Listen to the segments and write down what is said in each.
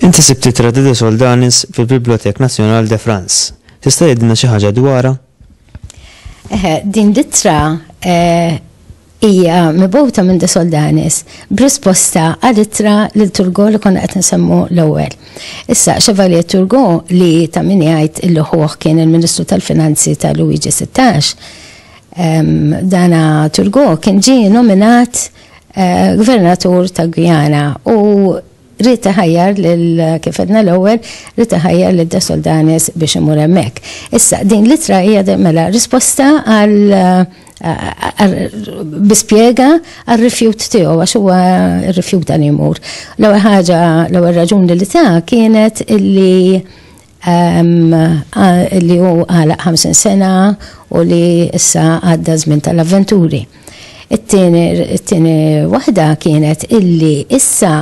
Inti sibti Tradide Soldanis fil-Bibliothèque Nationale de France. Tista' jgħidilna xi ħaġa dwarha? Eħe, din l-ittra eh, hija mibgħuta minn De Soldanis b'risposta għal ittra lil Turgo li konna qed nsemmu l-ewwel. Issa Chevalier Turgo li ta' min jgħid illi ħuħ kien il-Ministru tal-Finanzi ta' Luigi 16, dana Turgo kien ġie nominat eh, gvernatur ta' Guyana u Ried iħajjar lil, kif għedna l-ewwel, ried iħajjar lil De Soldanis biex imur hemmhekk. Issa, din l-ittra hija mela risposta għal bi spjega għar-rifjut tiegħu għax huwa rrifjuta li jmur. L-ewwel ħaġa, l-ewwel raġuni li ta kienet illi li hu għalaq 50 sena u li issa għadda żmien tal-avventuri. It-tieni waħda kienet illi issa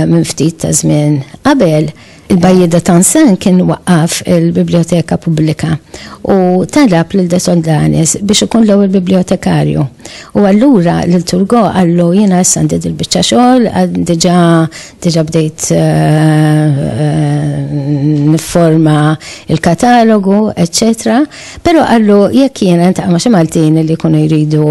minn ftit ta' żmien qabel il-Bajjieda Tansen kien waqqaf il-Bibljoteka Pubblika u talab lil De Soldanis biex ikun l-ewwel bibbljotekarju. U allura lil Turgot qallu jiena issa għandi dil-biċċa xogħol, diġà Diġà bdejt nifforma l-katalogu, eċċetera, però qallu jekk jiena ntaqa' ma' xi Maltin li jkunu jridu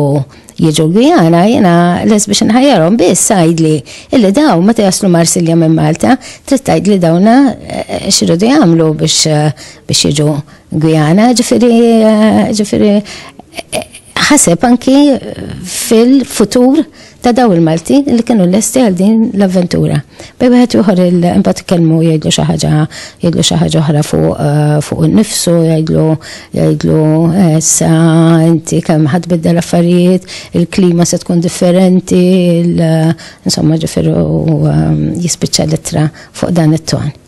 jiġu l-Gwijana, jiena les biex inħajjarhom biss għidli illi dawn meta jaslu Marsilja minn Malta, trid tgħidli dawna x'iridu jagħmlu biex jiġu Gwijana, ġifieri ħaseb anki fil-futur ta' daw il-Maltin li kienu lesti għal din l-avventura. Bej wieħed ieħor imbagħad ikellmu jgħidlu xi ħaġa jgħidlu xi ħaġa oħra fuq eh, innifsu, jgħidlu jgħidlu eh, sa inti kemm ħadd biddel affarijiet, il-klima se tkun differenti, insomma ġifiru eh, jispiċċa litra fuq dan it-ton.